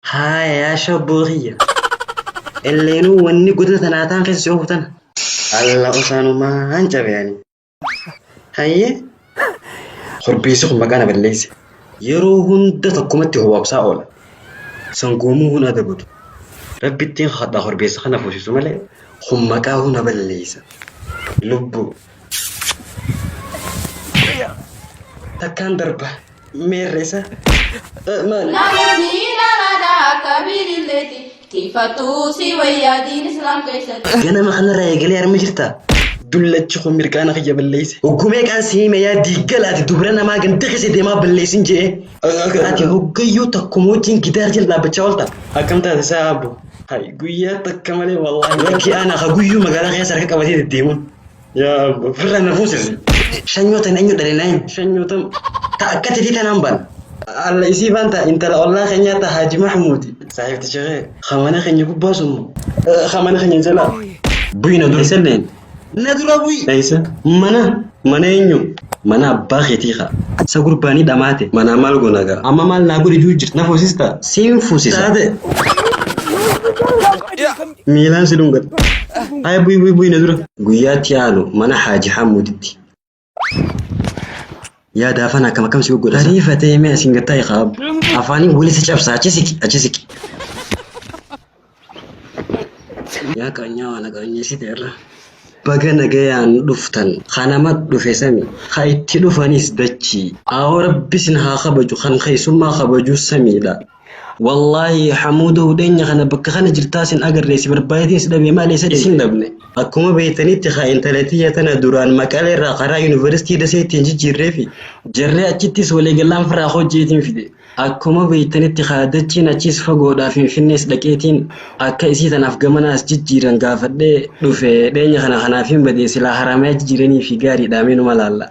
Haaya yaa shabboo kiyya. Elleenuu wanni godina tanaa taan keessa si oofu tana. Alla osaanumaan cabe ani. Hayyee. Korbeessi kun maqaa na balleesse. Yeroo hunda tokkumatti howwaabsaa oola. Sangoomuu hun adabatu. Rabbittiin kadhaa korbeessa kana fuusisu malee kun maqaa hun na balleessa. Lubbuu. Takkaan darba. Meerresa. Maali? Namoonni daraadha akka biililleeti. Tiifattuu si wayyaa diin islaam keessatti. Ganama kanarraa eegalee harma jirtaa? Dullachi kun mirqaana kiyya balleesse. Hoggumee qaan si hime yaa diiggalaati dubra namaa ganda keessa deemaa balleessin je'ee. Ati hoggayyuu takkuma wajjin gidaar jala dhaabbachaa oolta. Akkam taate isaa abbo? Hay guyyaa takka malee wallaahi. Lakki ana ka guyyuu magaalaa keessa harka qabatee deddeemuun. Yaa abba firra na fuusis. Shanyootan eenyu dhalee naayin shanyootan ta akka titi tanaan baan. Alla isii baan ta intala ollaa keenyaa ta Haaji Mahmuudi. Saahibti shekee kamana keenya gubbaa sun moo. Kamana keenya jalaa. Buyi na dura isallee. Na dura buyi. Eessa? Mana. Mana eenyu? Mana abbaa keetii kaa. Sa gurbaanii dhamaate. Manaa maal goona gaa? Amma maal naa godhi juu jirti na fuusista? Siin fuusisa. Taate. Miilaan si dhungadha. Haaya bu'i bu'i bu'i na dura. Guyyaatti aanu mana Haaji Hamuuditti. Yaa daafan akkam akkam si goggodha. Ariifatee mee asiin gad taa'i qaab. Afaaniin wali si cabsa achi siqi achi siqi. Yaa qaanyaa waan qaanyeessite irra. Baga nagayaan dhuftan kanama dhufe sami ka itti dhufanis dachii. Aawoo rabbi sin haa kabaju kan keessummaa kabaju samiidha. Wallaahi Hamuudoo hudheenya kana bakka kana jirtaa sin agarree si barbaadeetiin si dhabee maal eessa Isin dhabne. Akkuma beektanitti haa intalatiyya tana duraan maqalee irraa karaa yuunivarsiitii dasee ittiin jijjiirreefi jarree achittis waliigallaan firaa koo jeetiin fide. Akkuma beektanitti haa dachiin achiis fagoodhaa finfinnees dhaqeetiin akka isii tanaaf gamana as jijjiiran gaafadhee dhufe dheenya kana kanaafiin badee silaa haramayaa jijjiiraniifi gaariidhaa mee numa laalla.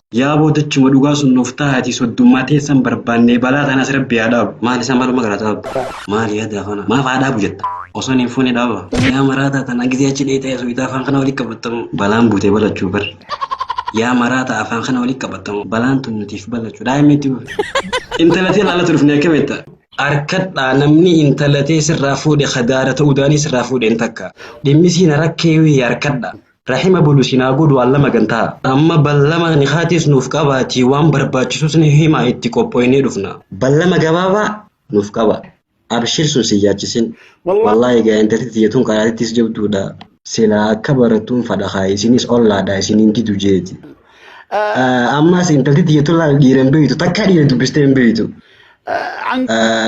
Yaa boodachuma dhugaa sun nuuf taahaatii soddummaa teessan barbaannee balaa tanas rabbi haa dhaabu. Maal isa maluma garaa dhaabdu. Maal yaada afana. Maaf haa dhaabu jetta. Osoon hin fuune dhaaba. Yaa maraataa tana gizee achi dheeyxee asooytaa afaan kana wali qabattamu. Balaan buutee balachuu bar. Yaa maraataa afaan kana wali qabattamu. Balaan tun nutiif balachuu. Daa'imni itti buufe. Intala tee laalatu dhufne akkam jetta. Arkadhaa namni intala tee sirraa fuudhe kadaara ta'uu daanii sirraa fuudhe hin takka. Dhimmi siina rakkee wii arkadhaa. Rahima bulu isin haa godhu Allah magantaa amma ballama nikaatis nuuf qabaatii waan barbaachisus ni himaa itti qophoynee dhufna. Ballama gabaabaa nuuf qabaa. Abshir sun si yaachisin. Wallaahi egaa intalti tiyya tun qaraatittis jabduudha. Silaa akka barattuun fadha kaa isinis ollaadha isin hin didu jeeti. Ammaas intalti tiyya tun laal dhiira hin beektu takkaa dhiira dubbistee hin beektu. An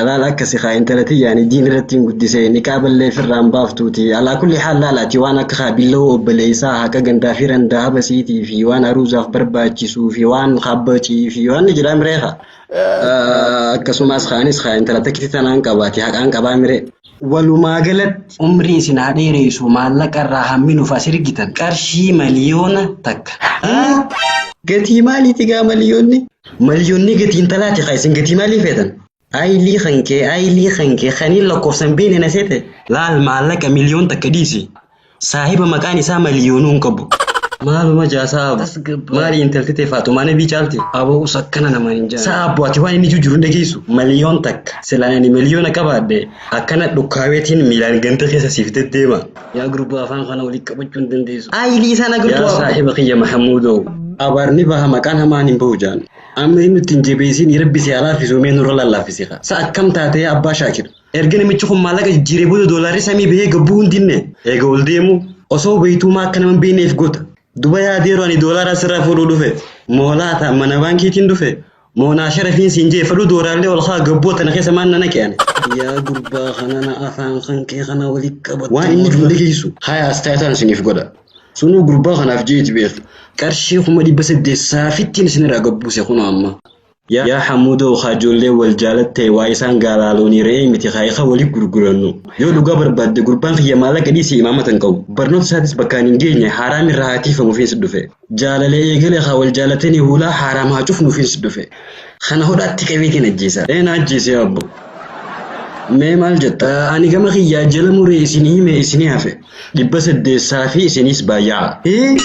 Laal akkasi kaa intala tiyyaan diin irratti hin guddisee niqaa ballee firraan baaftuuti. Alaa kulli haal laalaati waan akka haa billawoo obboleessaa haqa gandaa fi randaa habasiitii fi waan aruuzaaf barbaachisuu fi waan habbacii fi waan ni jedhaa miree kaa. Akkasumas kaanis kaa intala takkitti tanaan qabaati haqaan qabaa miree. Walumaa galatti umrii isin haa dheereesuu maallaqa irraa hammi nuf as ergitan qarshii maliyoona takka haa. Gatii maaliiti gaa maliyoonni? Maliyoonni gatii intalaati kaa isin gatii maalii feetan? Ayilii kan kee ayilii kan kee kan hin lakkoofsan beekne na seete? Laal maallaqa miliyoon takka dhiisi Saahiba maqaan isaa maliyoonuu hin qabu. Maaluma jaa sa'a abu. Tasgabbaa'e. Maali intalti tee faaxumaa nabii caalti. Aboo us akkana namaan hin jaane. Sa'a abu ati waan inni juu jiru hin dhageessu. Maliyoon takka silaan ani maliyoona qabaadhe akkana dhukkaaweetiin miilaan ganda keessa siif deddeema. Yaa gurbaa afaan kana walitti qabachuu hin dandeessu. Aayilii isaan Yaa agartuu abu. saahiba kiyya Mahamuudoo. Abaar ni baha maqaan hamaan hin bahu jaan. Amma inni ittiin jabeessiin rabbi si haa laaffisuu mee nurra lallaafisiika. Sa akkam taatee abbaa shaakir. Erga namichi kun maallaqa jijjiiree booda doolaarri samii bahee gabbuu hin dinne. Eega ol deemu osoo beeytuumaa akka nama hin beeyneef goota. Duba yaadeeru ani doolaara asirraa fuudhuu dhufe. Moo laata mana baankiitiin dhufe. Moo naa sharafiin siin jee fadhuu dooraallee ol kaa gabboo tana keessa maan na naqe ani. Yaa gurbaa kana na afaan kan kee kana wali qabadhu. Waan inni jiru hin dhageessu. Haya astaayataan isiniif godha. Sunuu gurbaa kanaaf jeeti beeki. Qarshii kuma dhibba saddeet saafittiin isinirraa gabbuuse kunoo amma. Yaa Hamuudoo kaa ijoolleen wal jaalatte waa isaan gaalaa loonii re'ee miti kaa ikaa wali gurgurannu. Yoo dhugaa barbaadde gurbaan kiyya maallaqa dhiisii imaamata hin qabu. Barnoota isaatis bakkaan hin geenye haaraam irraa haa tiifamufiins dhufe. Jaalalee eegale kaa wal jaalatanii huulaa haaraam haa cufnuufiins dhufe. Kana hodhaatti qabeetiin ajjeesa. Ee na ajjeesi yaa abbo. Mee maal jetta? Ani gama kiyyaa jala muree isinii hime isinii hafe. Dhibba saddeessaa fi isiniis baay'aa. Hii!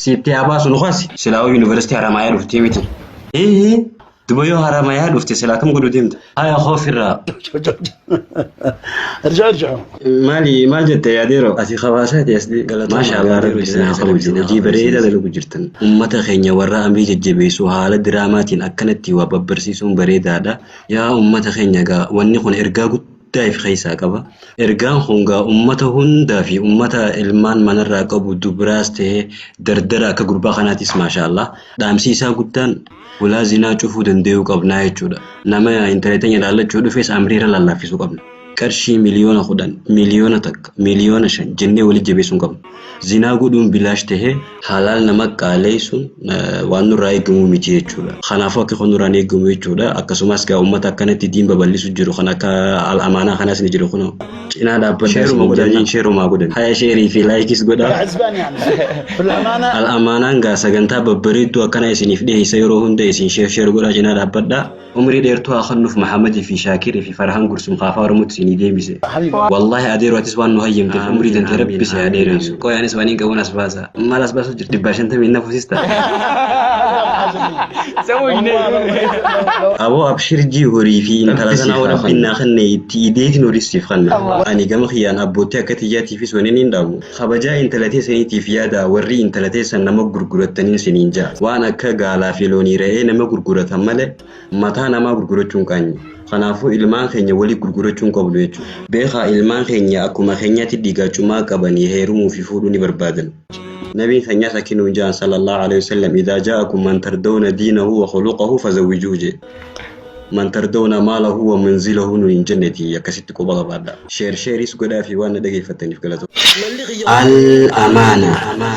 Siitti haa baasu nu kasi. Silaawuu University Haramaayaa dhuftee miti. Hii! Duba yoo Haramaayaa dhufte silaa kam godhu deemta? Haya koo firraa. ارجع ارجع Maali maal jette yaadeeroo? Ati kabaasaati as dhii. Galatooma, Maasha Allah yaadeeroo rabbi isin haa jennee kabaju. kana Hojii kana bareedaa barsiisa. dalagu jirtan. Ummata keenya warra amrii jajjabeessu haala diraamaatiin akkanatti waa babbarsiisuun bareedaadha. Yaa ummata keenya gaa wanni kun ergaa guddaa guddaa if keessaa qaba. Ergaan kun gaa ummata hundaa fi ummata ilmaan manarraa qabu dubraas ta'ee dardara akka gurbaa kanaatis maashaa Allah dhaamsi isaa guddaan hulaa zinaa cufuu dandayuu qabnaa jechuudha. Nama intala teenya laallachuu dhufes amrii irra laallaafisuu qabna. Qarshii miliyoona kudhan, miliyoona takka, miliyoona shan jennee walitti jabeessuu hin qabnu. Zinaa godhuun bilaash tahee halaal nama qaaleysuun waan nurraa eegamu miti jechuudha. Kanaafuu akka kun nurraa hin eegamu jechuudha. Akkasumaas gaa ummata akkanatti diin baballisu jiru kan akka Al Amaanaa kanaas ni jiru kunoo. Cinaa dhaabbadhaa Sheeruma isiniin godhaa jenna. jechuun sheerumaa godhan. Haya sheerii fi laayikis godhaa. Azbaan yaa amsa. Filamaanaa. Al Amaanaan gaa sagantaa babbareedduu akkana isiniif dhiheessa yeroo hunda isin sheer sheer godhaa cinaa dhaabbadhaa. Umrii dheertuu haa kennuf Mahamad fi Shakir fi Farahan Gursum kaa afaa oromotti isinii deebise. Wallahi Adeero atis waan nu hayyamteef umrii tantee rabbi si haa dheereessu. Qoy anis wanin qabun as baasa. Mal as basu jirta dibbaa shantamii hin nafu sista. Aboo abshir jii horii fi intala sana hoo rabbiin naa kenne itti ideetin horis siif kanna. Ani gama kiyyaan abbootti akka tiyyaatiifis wanin hin dhaamu. Kabajaa intala teesaniitiif yaadaa warrii intala teessan nama gurgurattaniin siniin ja'a. Waan akka gaalaa fi loonii re'ee nama gurguratan malee mataa namaa gurgurachuun qaanyi. Kanaafuu ilmaan keenya walii gurgurachuu hin qabnu jechuudha. Beekaa ilmaan keenya akkuma keenyaatti dhiigaa cumaa qabanii heerumuu fi fuudhuu ni barbaadan. Nabiin keenyas akki nuun ja'an sallallaahu aleyhi wasallam idaa jaa'akum man tardawna diinahu wa khuluqahu fazawwijuuhu je'e. man tardawna maalahu wa manzilahu nuun hin jenneti akkasitti quba qabaadha. Share shareis godhaafi waan na dhageeffattaniif galatoomaa. Al amaana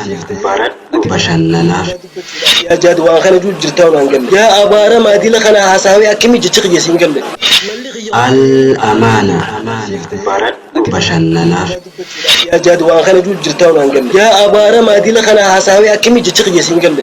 siif baradhu bashannanaaf. Yaa jaad waan kana juu jirtaa waan galle. Yaa abaaramaa dila kana hasaawee akkami jechi kiyya siin galle. Al amaana siif baradhu bashannanaaf. Yaa jaad waan kana juu jirtaa waan galle. Yaa abaaramaa dila kana hasaawee akkami jechi kiyya siin galle.